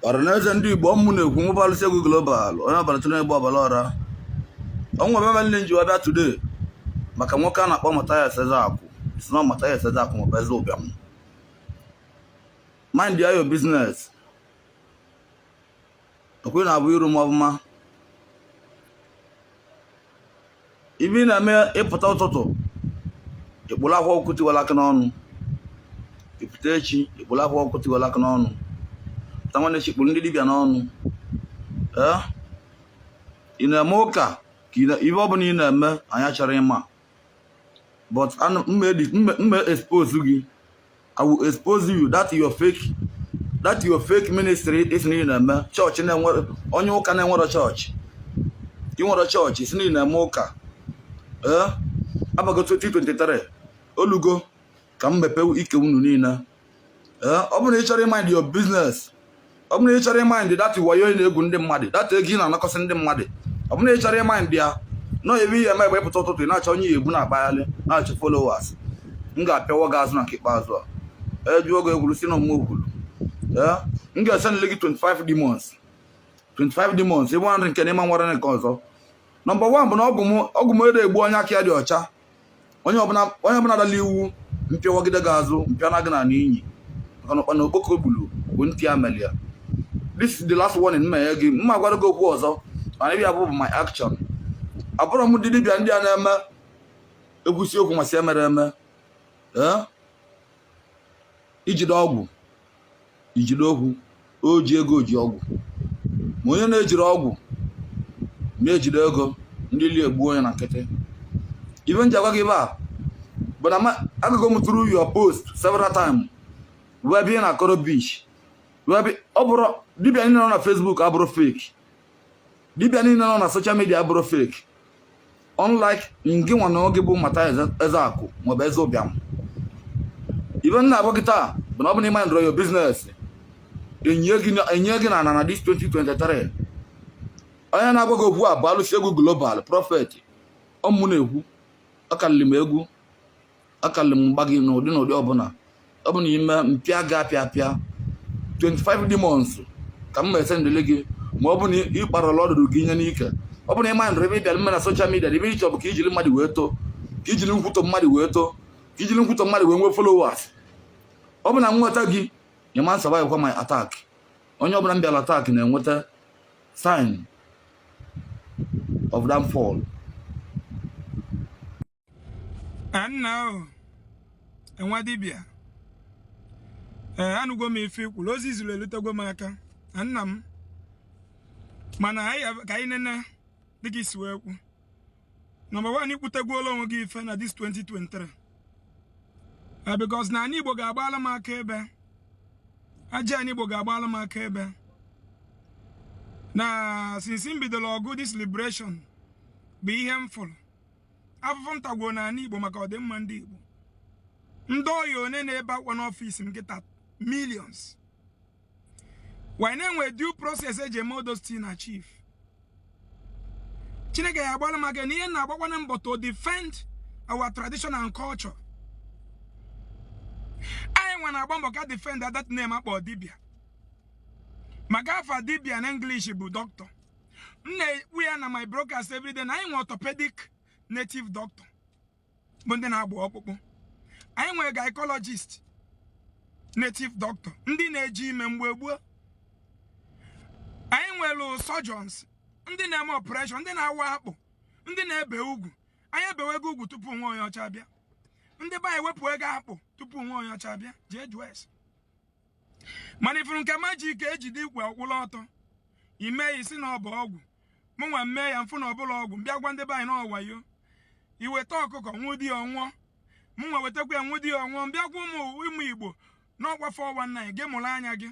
ọranaeze ndị igbo ọ mụ na-ekwu nwa bụ Alụsị Egwu Global onye ọbara tụrụ egbe ọbara ọra o nwe ibe mele m ji wee bịa today maka nwoke a na-akpọ Mathias Ezeaku ị sị na Mathias Ezeaku maọbụ eze ụbịam mind your business ọkwa na afụrụ m ọfụma ibe ị na-eme ị pụta ụtụtụ ị kpụrụ Akwa Ọkụkọ Tiwara Akị n'ọnụ ị pụta echi ị kpụrụ Akwa Ọkụkọ Tiwara Akị n'ọnụ pụta nwanne echi ị kpụrụ ndị dibịa n'ọnụ ee ị na-eme ụka ka ibe ọ bụla ị na-eme anyị achọrọ ịma but m me expose gị i will expose you that your fake that your fake ministry ị sị na ị na-eme chọọchị na-enwere onye ụka na-enwere chọọchị ị nwere chọọchị ị sị na ị na-eme ụka ee abago 2023 olugo ka m mepee ike unu niile eh, ọ bụrụ na ị chọrọ ịmind your business ọ bụrụ na ị chọrọ ịmind that wayo ị na-egwu ndị mmadụ that ego ị na-anakọsị ndị mmadụ ọ bụrụ na ị chọrọ ịmind ya nọ ebe ihe eme egbe pụta ụtụtụ ị na-achọ onye ya egbu na-akpagharị na-achọ followers m ga-apịawa gị azụ na nke ikpeazụ a ejuo gị egwuru si na ụmụ okwuru eh, m ga-esendịle gị 25 demons 25 demons ịbụ nri nke n'ime nwere nke ọzọ nọmba 1 bụ na ọgwụ m ede egbu onye aka ya dị ọcha onye ọbụla dala iwu m pịawagide gị azụ m pịana gị na n'inyi maka na ụkpana okpoko gburu bụ ntị ya mere ya this is the last warning m me enye gị m ma gwara gị okwu ọzọ mana ibe ị ya-afụ bụ my action abụrụ m ndị dibịa ndị a na-eme ekwusi okwu m asị emere eme ijide ọgwụ ijide okwu o ji ego ji ọgwụ ma onye na-ejiri ọgwụ na-ejide ego ndị ilo egbuo onye na nkịtị ibe m ji agwa gị ibe a bụ na ma- agago m through your post several times wee bịa na koro beach wee bịa ọ bụrụ dibịa niile nọ na facebook abụrụ fake dibịa niile nọ na social media abụrụ fake unlike ngị nwa na onwe gị bụ Mathias Ezeaku maọbụ eze ụbịam ibe m na-agwa gị taa bụ na ọ bụ na ị mindịrọ your business enyie gị n'ana na this 2023 onye na-agwa gị okwu a bụ alụsị egwu global prophet ọ mụ na-ekwu akalịlị m egwu akalị m mgba gị n'ụdị n'ụdị ọbụla ọ bụ na i me m pịa gị apịa apịa 25 demons ka m me sendịlị gị ma ọ bụ na ị kparala ọdụdụ gị tinye n'ike ọ bụ na ị mindịrọ ibe ị bịara ime na social media ebe ị chọbụ ka ijiri mmadụ wee too ka ijiri nkwutọ mmadụ wee too ka ijiri nkwutọ mmadụ wee nwee followers ọ bụ na m nweta gị ị ma survive kwa my attack onye ọbụla m bịara attack na-enweta sign of downfall Eh, nna ahụ nwa dibịa ee eh, anụgo m ife ikwuru ozi iziri elutego m aka nna m mana ka anyị nene dịka isi wee kwu number one ikwutegwuola onwe gị ife na this 2023 eh, because na anị Igbo ga-agbala m aka ebe aja anị Igbo ga-agbala m aka ebe na since m bidoro ọgụ this liberation bụ ihe m fụrụ afụfụ m tagwo na anị igbo maka ọdịmma ndị igbo ndị ọya one na-ebe akwa n'ọfịs m nkịta millions while na enwe due process eji eme all those things na chief chineke ya agbala m aka na ihe na-agbakwana mbọ to defend our tradition and culture anyị nwa na-agba mbọ ka defend that name akpọ dibia maka afa dibia na english bụ doctor m na-ekwu ya na my broadcast everyday na anyị nwe orthopedic native doctor bụ ndị na-agba ọkpụkpụ anyị nwe gynecologist native doctor ndị na-eji ime mgbe gboo anyị nwere surgeons ndị na-eme operation ndị na-awa akpụ ndị na-ebe ugwu anyị ebewego ugwu tupu nwa onye ọcha abịa ndị be anyị ewepụwego akpụ tupu nwa onye ọcha abịa jee jụọ ese mana ifuru nke magic ejide ikwe ọ kwụlụ ọtọ ime ya isi na ọ bụ ọgwụ mụ nwa mee ya mfụ na ọ bụrọ ọgwụ mbịa gwa ndị be anyị na ọ wayo iweta ọkụkọ nwude ọ nwụọ mụ nwa wetakwa ya nwude ọ nwụọ mbịa gwa ụmụ ụmụ igbo na ọkwa 419 gị mụrụ anya gị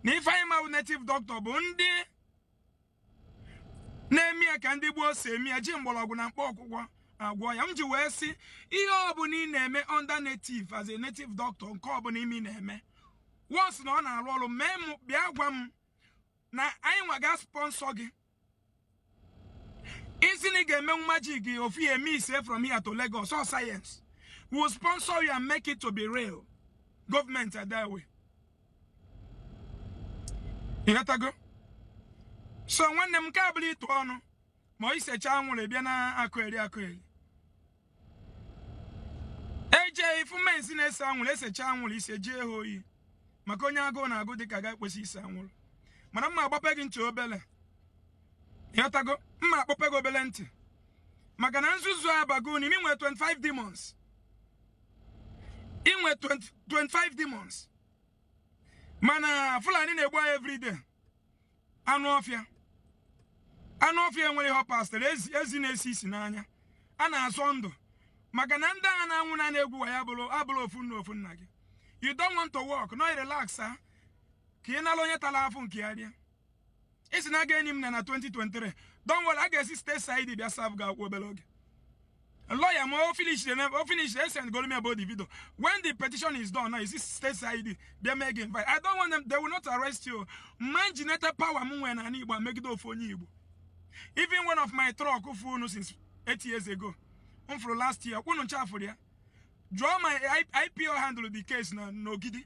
na ife anyị ma bụ native doctor bụ ndị na-eme ya ka ndị gboo si eme ya ji mgbọrọgwụ na mkpa akwụkwọ agwọ ọya m ji wee sị ihe ọbụla ị na-eme under native as a native doctor nke ọbụla ime ị na-eme once na ọ na-arụ ọrụ mee m bịa gwa m na anyị nwa ga sponsor gị isi na ị ga-emenwu magic gị ofu ya eme ise from here to Lagos ọ science we will sponsor you and make it to be real government adawe ịghọtago so nwanne m nke a abụrọ ịtụ ọnụ ma ọ isecha anwụrụ bịa na-akọyeri akọyeri eje ifu men si na-ese anwụrụ esecha anwụrụ ise jee ha oyi maka onye agụụ na-agụ dịka gị ekwesị ise anwụrụ mana m ma agbape gị ntị obele ịghọtago m ma akpọpe gị obele ntị maka na nzuzu abago n'ime inwere 25 demons inwe 25 demons mana fulani na-egbu anyị everyday anụ ọfịa anụ ọfịa enwere ihe pastor ezi na-esi isi na anyị na-azọ ndụ maka na ndị agha na-anwụ na a na-egbu wa ya bụrụ abụrụ ofu nna ofu nna gị you don't want to work no relax ah. ka ị nala onye tara afụ nke ya rie ị sị na a ga-eni m na na 2023 don't worry a ga-esi state cid bịa serve gị akwụkwọ obere oge lawyer m o finish the o finish the send go me about the video when the petition is done now e si state cid bịa mee gị invite i don't want them they will not arrest you man generated power m nwere na igbo megide ofu onye igbo even one of my truck furu efu since eight years ago m fụrụ last year kwụnụ ncha fụrụ ya draw my ipo handle the case na n'ogidi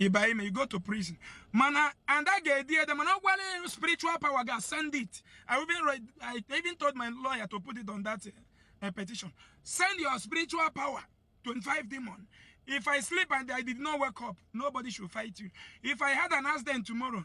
ịba ime you go to prison mana and a ga-edi ede mana ọ gwara ya spiritual power ga send it I even, read, I even told my lawyer to put it on that uh, petition send your spiritual power 25 demon if I sleep and I did not wake up nobody should fight you if I had an accident tomorrow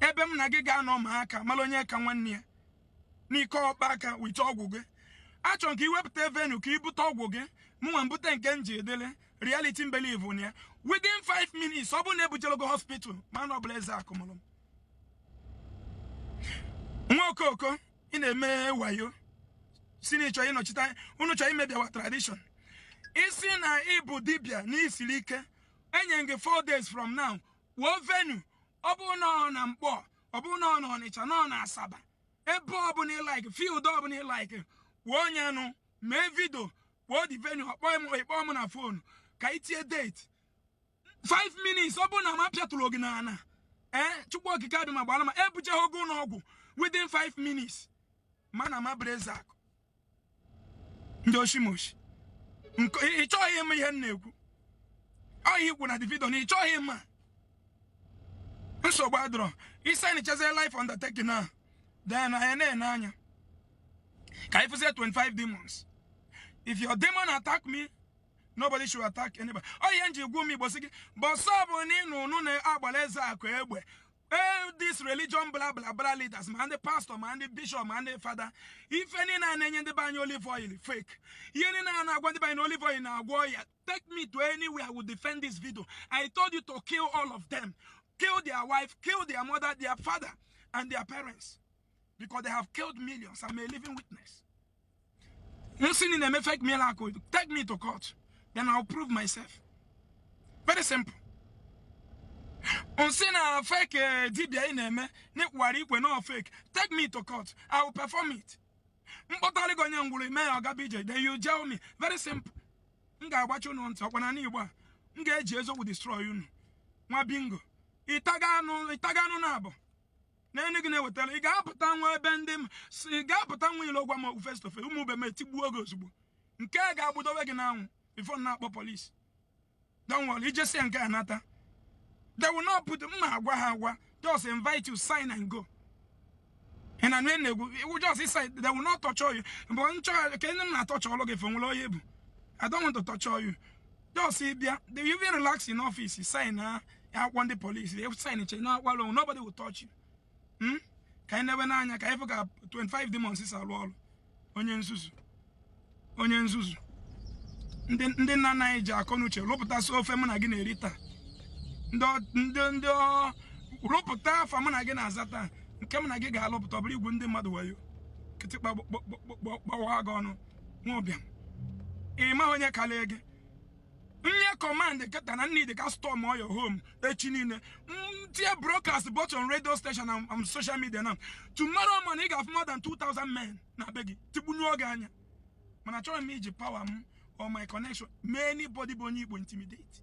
ebe m na gị ga-anọ ma aka mara onye ka nwanne ya n'ike ọkpa aka with ọgwụ achọrọ m ka i wepụta venue ka i bute ọgwụ gị mụnwa ebute nke m ji edele reality m believe na ya within 5 minutes ọ bụrụ na ebujerọ gị hospital ma na ọ bụrọ ezeakụ mụrụ nwa okoko ị na-eme wayo si na ị chọ ịnọchite unu chọọ imebi our tradition ị sị na ị bụ dibia na i siri ike enye gị 4 days from now kwuo venue ọ bụ na ọ na nkpọ ọ bụ na ọ na ọnịcha na ọ na asaba ebe ọbụla ị like field ọbụla ị like kwuo onye nụ mee video kwuo the venue ọkpọ m ị kpọọ m na phone ka i tinye date 5 minutes ọ bụ na m apịaturọ gị n'ala ee chukwu okike abịama gbara ma ebujeghị gị ụlọ ọgwụ within 5 minutes ma na m abụrọ ezeakụ ndị oshimoshi ị chọghị ịma ihe m na-ekwu ọ ihe i kwu na the video na ị chọghị ịma nsogbu adịrọ ị sign chazie life undertaking na then anyị na-ene anya ka anyị fụzie 25 demons if your demon attack me nobody should attack anybody ọ ihe m ji gwa ụmụ igbo si gị bọsọ bụ na ịnụ unu na-agbala ezeakụ egbe all this religion bla bla bla leaders ma ndị pastor ma ndị bishop ma ndị fada ife niile a na-enye ndị be anyị olive oil fake ihe niile a na-agwa ndị be anyị na olive oil na-agwọ ọya take me to anywhere i will defend this video i told you to kill all of them kill their wife kill their mother their father and their parents because they have killed millions i'm a living witness m sị na ị na-eme fake miracle take me to court then I'll prove myself very simple m sị na fake eh, dibia ị na-eme n'ịkwara ikwe na fake take me to court I will perform it m kpọtara gị onye ngwụrọ i mee ya ọ gaba ije then you jail me very simple m ga-agbachi unu ntị ọkwa na igbo a m ga-eji eziokwu destroy unu nwa bingo ị taga anụ na abụ n'elu gị na-ewetara ị ga-apụta nwa ebe ndị m si ị ga-apụta nwa ile ọgwa ma ọgwụ face to face ụmụ be m etigbuo gị ozugbo nke a ga-agbadowe gị n'anwụ before a kpọọ police don't worry ị jesịa nke a nata they will not put m ma agwa ha agwa just invite you sign and go ị na nwe na-egwu iwu just sign they will not torture you mgbe nchọgharị ka ndị m na-atorture ọlụ gị fo nwere onye bụ I don't want to torture you just bịa they will even relax in office signịa akwụkwọ ndị polisi they sign che na akwalụ nobody will touch you hmm? ka anyị nebe n'anya ka anyị fụ ka 25 demons si alụ ọrụ onye nzuzu onye nzuzu ndị nna nna anyị ji akọ n'uche lụpụtasị ofe mụ na gị na-eri taa ndị ndị rụpụta afa mụ na gị na-aza taa nke mụ na gị ga-alụpụta ọ bụrụ igwu ndị mmadụ wayo kịtịkpa gbawa gị ọnụ nwa ụbịam ị ma onye kalịa gị nye command kịta na m need ka a storm your home echi niile m tie broadcast both on radio station and on social media now tomorrow morning ị ga-afụ more than 2000 men na be gị tigbunye oge anya mana achọrọ m iji power m or my connection mee anybody bụ onye igbo intimidate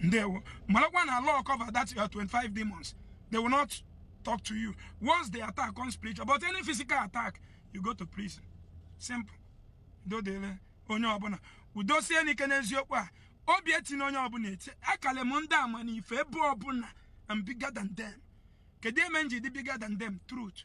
ndewo marakwa na law cover that your 25 demons they will not talk to you once they attack on spiritual but any physical attack you go to prison simple dodele onye ọbụna kwudosie n'ike n'eziokwu a obi etina onye ọbụna eti akalị m ndị ama na ife ebe ọbụna I'm bigger than them kedu eme m ji dị bigger than them truth